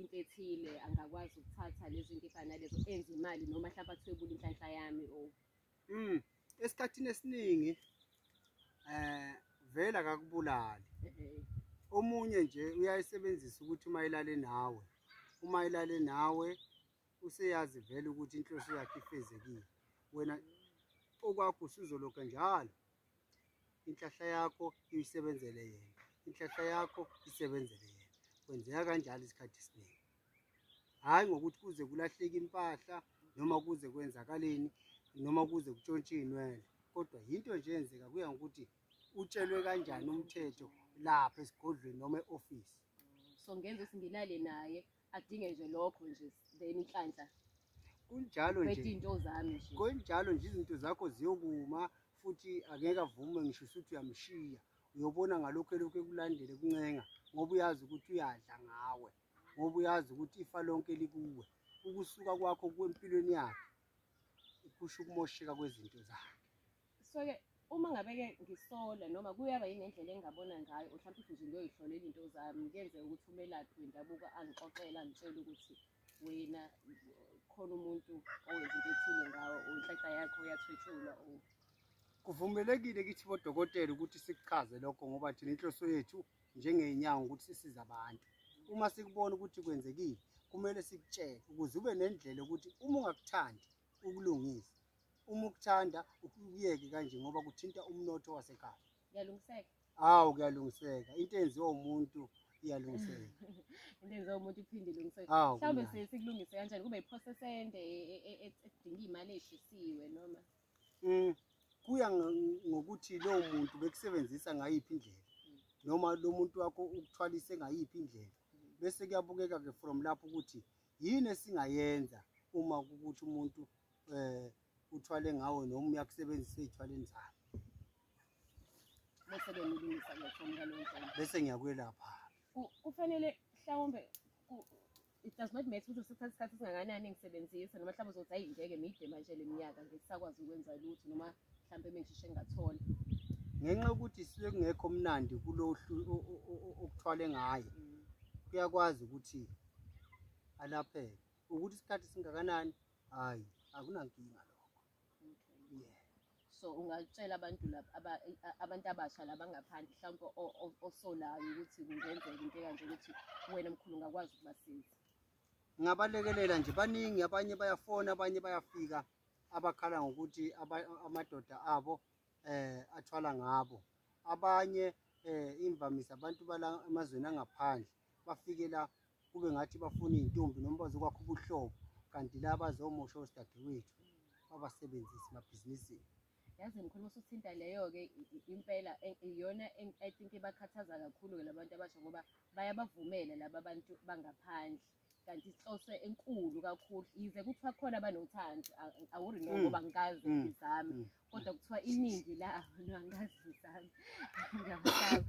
into ethile angakwazi ukuthatha lezo into efana nalezo enze imali noma mhlawumbe athwebule inhlanhla yami o mm esikhathini esiningi eh vela kakubulali omunye nje uyayisebenzisa ukuthi uma ilale nawe uma ilale nawe useyazi vele ukuthi inhloso yakhe ifezekile wena okwakho usuzoloka njalo inhlahla yakho uyisebenzele yena inhlahla yakho isebenzele yena kwenzeka kanjalo isikhathi esiningi hhayi ngokuthi kuze kulahleke impahla noma kuze kwenzakaleni noma kuze kutshontshe iy'nwele kodwa yinto nje yenzeka kuya ngokuthi utshelwe kanjani umthetho lapha esigodlweni noma e-ofisi so ngenza ukuthi ngilale naye adinge nje lokho nje then inhlanhla kunjalo nje into zami nje kunjalo nje izinto zakho ziyokuma futhi angeke avume ngisho ukuthi uyamshiya uyobona ngalokho elokhu ekulandele kuncenga ngoba uyazi ukuthi uyadla ngawe ngoba uyazi ukuthi ifa lonke likuwe ukusuka kwakho kwempilweni yakhe kusho ukumosheka kwezinto zakhe soke uma ngabe-ke ngisola noma kuyaba yini indlela engingabona ngayo or mhlawumpe ukuthi nje ngiyoyihlolela izinto zami kuyenzeka ukuthi umelaphi wendabuko angixoxele angitshele ukuthi wena khona umuntu owenza into ethile ngawo or inhlanhla yakho uyathwetshulwa or kuvumelekile kithi bodokotela ukuthi sikuchaze lokho ngoba thina inhloso yethu njengey'nyango ukuthi sisize abantu uma sikubona ukuthi kwenzekile kumele sikutshele ukuze ube nendlela ukuthi uma ungakuthandi ukulungisa uma ukuthanda ukuyeke kanje ngoba kuthinta umnotho wasekhaya kuyalungiseka hawu kuyalungiseka into enziwa umuntu iyalungiseka into enziwa umuntu iphinde ilungiseke mhlawumbe sikulungise kanjani kube iprocess ende e, e, e, edinga imali eshisiwe noma mm, kuya ngokuthi lowo muntu bekusebenzisa ngayiphi indlela mm. noma lo muntu wakho ukuthwalise ngayiphi indlela mm. bese kuyabukeka-ke from lapho ukuthi yini esingayenza uma ukuthi umuntu eh uthwale ngawo noma uyakusebenzisa ezithwaleni zakhe bese ke ngilungisa ke from ngaloo ndlela bese ngiyakwelapha kufanele mhlawumbe it does not matter ukuthi usithatha isikhathi esingakanani ngisebenzisa noma mhlawumbe uzothi hayi ngeke mide manje le minyaka ngisakwazi ukwenza lutho noma mhlawumbe mengishishe ngingathola ngenxa yokuthi sisuke kungekho mnandi kulo okuthwale ngayo mm. kuyakwazi ukuthi alapheke ukuthi isikhathi singakanani hayi akunankinga lokho okay. yeah. so ungatshela abantu abantu abasha labangaphandle mhlawumpe osolayo ukuthi kungenzeka into ekanje ukuthi wena mkhulu ungakwazi ukubasiza ngingabalekelela nje baningi abanye bayafona abanye bayafika abakhala ngokuthi amadoda abo eh athwala ngabo abanye eh imvamisa abantu bala emazweni angaphandle bafike la kube ngathi bafuna iy'ntombi noma bazokwakha ubuhlobo kanti la bazomosha osidadewethu babasebenzise emabhizinisini yazi ngikhuluma usuthinta leyo-ke impela e, iyona i think ibakhathaza kakhulu-ke labantu abasha ngoba bayabavumela laba bantu bangaphandle kanti inhloso enkulu kakhulu yize kuthiwa khona abanothando awuri no mm. ngoba ngikazi mm. izami mm. kodwa kuthiwa iningi la no angikazi izami ngiyabahlaba